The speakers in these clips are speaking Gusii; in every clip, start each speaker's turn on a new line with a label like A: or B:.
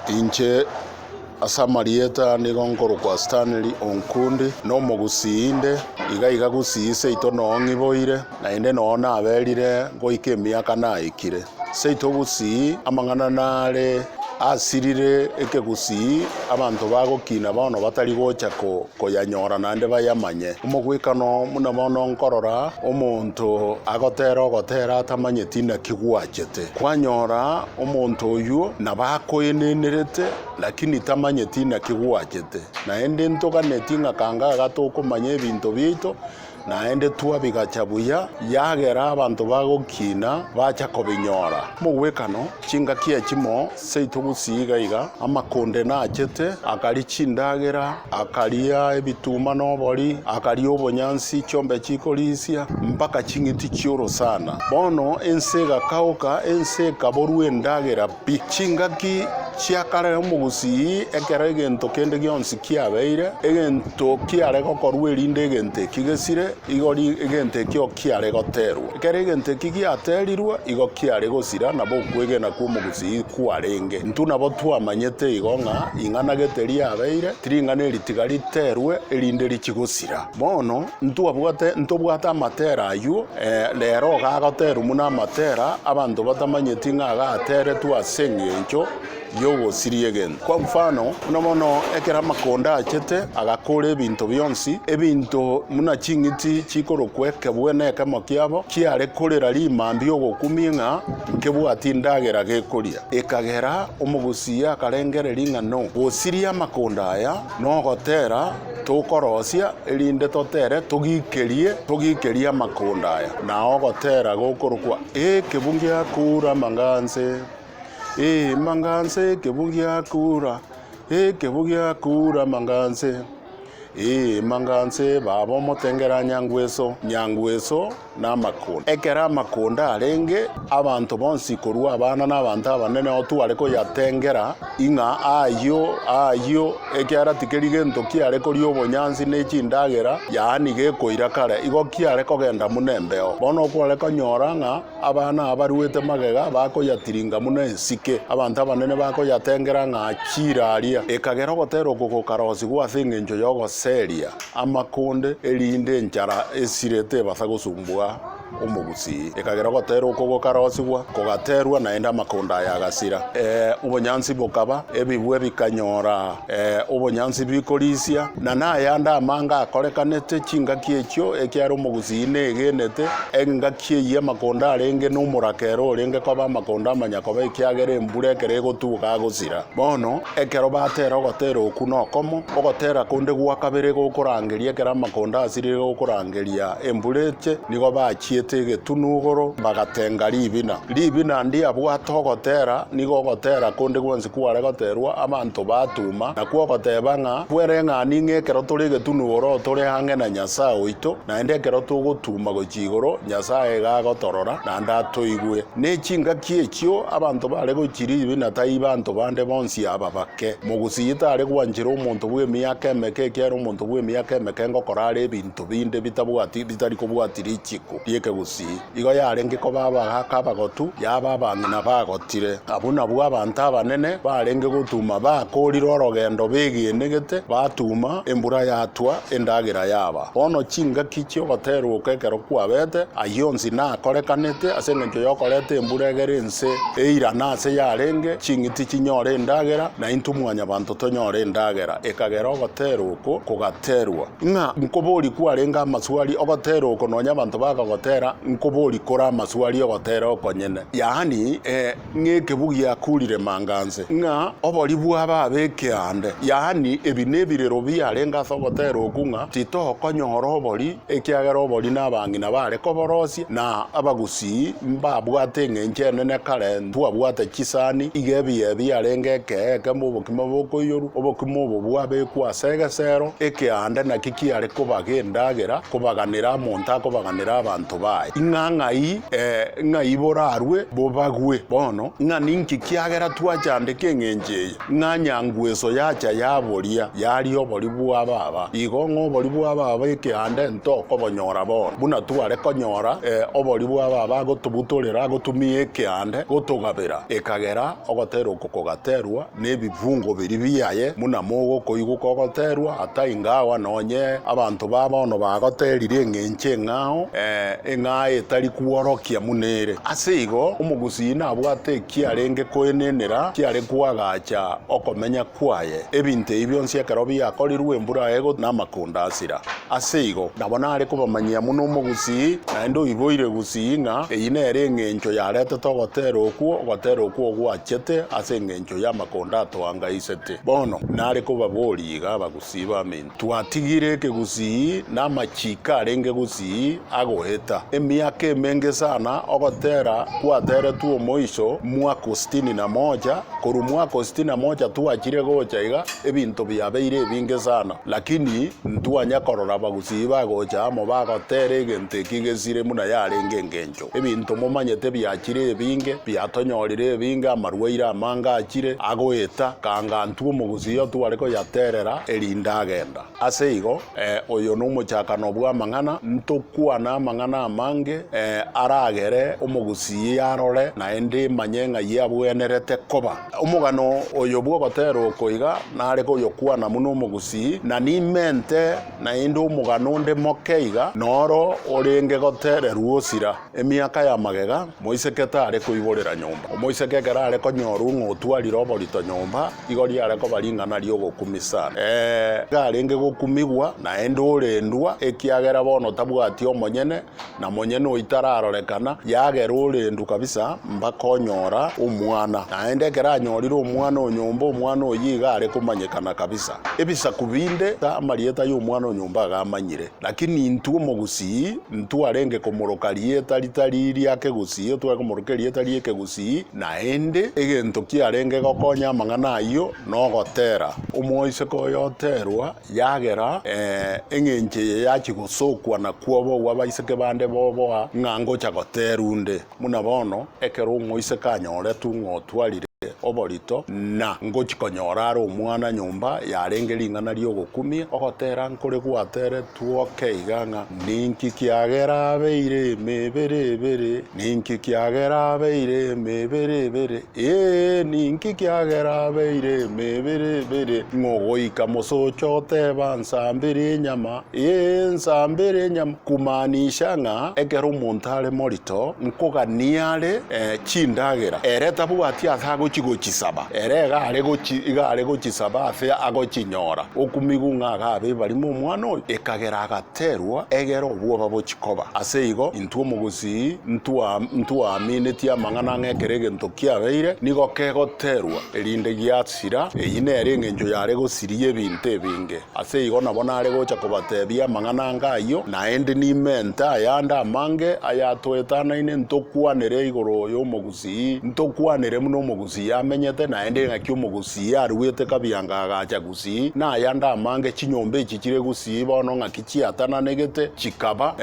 A: Inche, ase amarieta nigo nkorokwa Stanley Onkundi, nomogusii inde, iga iga gusii seito noo ng'iboire, naende noo naberire goika emiaka naikire. Seito gusii amang'ana nare asirire ekegusii abanto bagokina bono batari gocha koyanyora naende bayamanye. Omogwekano buna bono nkorora omonto agotera ogotera atamanyeti naki gwachete. Kwanyora Omonto oyio nabo akoenenerete, lakini tamanyeti naki gwachete. Naende ntoganeti ng'a kangaga tokomanya ebinto biaito, naende twabigacha buya, yagera abanto bagokiina bacha kobinyora. Mogwekano, chingaki echimo seito gusii iga iga, amakonde nachete, akari chindagera, Akaria ebituma nobori, akaria obonyansi, chiombe chikorisia, mpaka ching'iti chi'orosana. Bono ense egakagoka, ense ekaborwa endagera pi. Chingaki chia kare omogusii, ekero egento kende gionsi kiabeire, egento kiare gokorwa erinde egento eki gesire, igo egento ekio kiare goterwa. Ekero egento eki giaterirwe, igo kiare gosira, nabo okwegena kw'omogusii kwarenge. Intwe nabo twamanyete igo ng'a ing'ana gete riabeire, tiring'ana eri tiga riterwe, erinde richie gosira. Bono ntwabwate, ntobwate amatera ayio, ee, rero iga agoterwa buna amatera, abanto batamanyeti ng'a agateretwe as'engencho y'ogosiria egento. Kwa mfano, buna bono ekero amakonda achete agakoora ebinto bionsi, ebinto buna ching'iti chikorokwa ekebwe nekemo kiabo, chiare korera rimambia ogokumia ng'a nkebwati endagera gekoria. Ekagera omogusii akarengereria ng'a no gosiria amakonda aya nogotera tokorosia, erinde totere togikerie togikerie amakonda aya, na ogotera gokorokwa ekebu ngiakoura amanga anse. Ee manganse ekebu giakura ekebu giakura manganse Ee manganse baba omotengera nyangweso nyangweso na amakunda ekero amakunda arenge abanto bonsi korwa abana na abanto abanene otware koyatengera ing'a ayio ayio ekiara tikeri gento kiare koria obonyansi ne chindagera yaani gekoira kare igo kiare kogenda muna embeo bono okware konyora ng'a. Abana abaruete magega bakoyatiringa buna ensike, abanto abanene bakoyatengera ng'a chiire aria. Ekagera ogotera okwo gokarosigwa ase engencho y'ogoseria amakonde, erinde enchara esire tebasa gosumbua omogusii. Ekagera ogotera okwo gokarosigwa, kogaterwa, naende amakonde aya agasira. Ee, obonyansi bokaba, ebibwe bikanyora ee, obonyansi bikorisia, na nayande amanga akorekanete, chingaki echio, ekiagera omogusii negenete engaki. Ki eyio amakondo arenge nomoraka ere orenge koba amakondo amanya koba ekiagera embura ekero egotuboka agosira. Bono, ekero batera ogotera oku nokomo, ogotera konde gwa kabere gokorangeria ekero amakondo asirire gokorangeria embura eche, nigo bachiete egetunu igoro bagatenga ribina. Ribina ndiabwate ogotera, nigo ogotera konde gwonsi kware goterwa abanto batuma, nakwo ogoteba ng'a, Kwereng'ani ng'a ekero tore egetunu igoro tore ang'e na Nyasae oito, Naende ekero togotuma gochia igoro, Nyasae iga agotorora, naende atoigwe. Ne chingaki echio abanto bare gochiribi, na tai banto bande bonsi aba bake. Mogusii tare gwanchera omonto bw'emiaka emeke, ekiagera omonto bw'emiaka emeke ngokorara ebinto binde bitabwati, bitari kobwati richiku ri'ekegusii. Igo yarenge koba abagaaka abagotu, yaba abang'ina bagotire. Abwo nabwo abanto abanene barenge gotuma bakoorire orogendo begenegete, batuma, embura yatwa, endagera yaba. Bono chingaki chi'ogoteerwokwa ekero kwabete, ayio onsi nakorekanete, ase engencho y'okoreta embura egere ense eirane aase yarenge, ching'iti chinyore endagera, naintwe Mwanyabanto tonyore endagera. Ekagera ogoteerwa okwo kogaterwa. Ng'a nkobori kwarenge amaswali ogotera oko nonya abanto bakagotera nkobori kore amaswali ogotera okonyene yaani eh, ng'ekebu giakurire manganse ng'a obori bw'ababe ekeande yaani ebi nebirero biarenge ase ogotera oku ng'a titokonyora obori ekiagera obori nabang'ina bare koborosia na abagusi Isi mbabwate engencho enene kare, ntwabwate chisani, iga ebiya ebi yarenge ekeye ekembe obokima bokoiyorwa, obokima obo bwabekwa ase egesero ekeande, naki kiare koba gendagera kobaganera amonto akobaganera abanto baye. Ing'a ng'ai, ee, ng'ai borarue bobagwe. Bono, ng'a ninki kiagera twachandeka engencho eye? Ng'a nyangu eso yacha yaboria, yaria obori bwa baba, igo ng'a obori bwa baba ekeanda ento okobonyora bono, buna tware konyora obori bwa baba agotobutorera agotumia ekeanda gotogabera, ekagera ogotera oko kogaterwa nebifungo biria biaye, buna mogokoigwa kogoterwa ata ingawa nonye abanto ba bono bagoterire eng'encho eng'ao, ee, eng'ao etari kworokia buna ere. Ase igo omogusii nabwate Kiarenge koenenera, kiare koagacha okomenya kwaye. Ebinto ebi bionsi ekero biakorirwe, embura egotwa, na amakondo asira. Ase igo, nabo nare kobamanyia buna omogusii, naende oiboire gusii, ng'a eyio nere engencho yaretete ogotera okwo, ogotera okwo ogwachete ase engencho y'amakondo atoangaisete. Bono, nare kobaboria iga abagusii b'aminto. Twatigire ekegusii na amachiiko arenge gusii agoeta. Emiaka emenge sana ogotera gwateretwe omoiso mwaka o sitini na moja, korwa mwaka o sitini na moja twachire gocha iga ebinto biabeire ebinge sana, lakini ntwanya korora abagusii bagocha amo bagotera egento ekio gesire buna yarenge engencho. Ebinto momanyete biachire ebinge, biatonyorire ebinge, amarwaire amange achire, agoeta, kanga ntwe omogusii oyo tware koyaterera, erinde agenda. Ase igo, ee, oyo nomochakano bw'amang'ana, ntokwane amang'ana amange, ee, aragere omogusii arore, naende manye ng'ai abwenerete koba. Omogano oyo bw'ogoterwa oko iga nare koyokwana buna omogusii, na nimente. Naende omogano onde moke iga noro orenge gotererwa osira, emiaka ya magega, moiseke tare koiborera nyomba. Omoiseke ekero are konyorwa ng'a otwarire oborito nyomba, igo riare koba ring'ana ri'ogokumia sana. Ee, iga arenge gokumigwa, naende orendwa, ekiagera bono tabwati omonyene, Na monyene oitararorekana yagerwa orendu kabisa mpaka onyora omwana. Naende ekero anyorire omwana o nyomba omwana oyio iga are komanyekana kabisa. Ebisaku binde amarieta y'omwana o nyomba agamanyire. Lakini intwe omogusii ntwarenge komoroka rieta ritari ria kegusii otware komoroka erieta ri'ekegusii naende egento kiarenge gokonya amang'ana ayio nogotera. Omoiseke oyoterwa Yagera, ee, engencho eye yachia gosokwa na kwobogwa abaiseke bande boboa ng'a ngocha goteerwa onde. Buna bono, ekero omoiseke anyoretwe ng'a otwarire oborito na ngochia konyora are omwana nyomba yarenge ring'ana ri'ogokumia, ogoteera nkore gwateeretwe oke iga ng'a, Ninki kiagera abeire emebere ebere? Ninki kiagera abeire emebere ebere? Ee, ninki kiagera abeire emebere ebere, ng'o goika mosocha oteba, Nsambere enyama? Ee, nsambere enyama, kumaanisha ng'a ekero omonto are morito, nkogania are eh, chindagera, ere tabwati ase agochi gochisaba, ere iga are gochi iga are gochisaba ase agochinyora. Okumigung'a agabe ebarimo omwana oyo, ekagera agata. Terwa egera obwoba bochie koba. Ase igo, intwe omogusii ntwa ntwaminetie amang'ana ng'a ekero egento kiabeire, nigo kegoterwa, erinde giasira. Eyio nere engencho yare gosiria ebinto ebinge. Ase igo nabo nare gocha kobateebia amang'ana anga ayio, naende nimente ayande amange ayatwetanaine, ntokwanere igoro y'omogusii, ntokwanere buna omogusii amenyete, naende ng'aki omogusii aruete kabianga agacha. Gusii, na aya ndamange chinyomba echi chire Gusii bono ng'aki chiatananegete, chikaba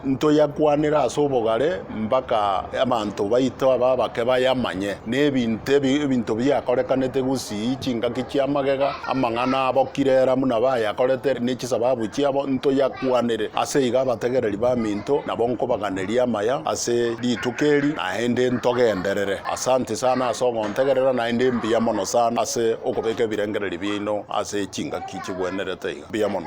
A: ntoyakwanera ase obogare mbaka abanto baito aba abake bayamanye, na ebinto ebinto biakorekanete Gusii, chingaki chi'amagega, amang'ana abokire Elamu na bayakorete, ne chisababu chiabo, ntoyakwanere. Ase igo abategereri baminto nabo nkobaganeria amaya ase rituko eri, na. Naende ntogenderere. Asanti sana ase ogontegerera naende mbuya mono sana ase okobeka ebirengererio biaino ase chingaki chigwenerete iga. Mbuya mono.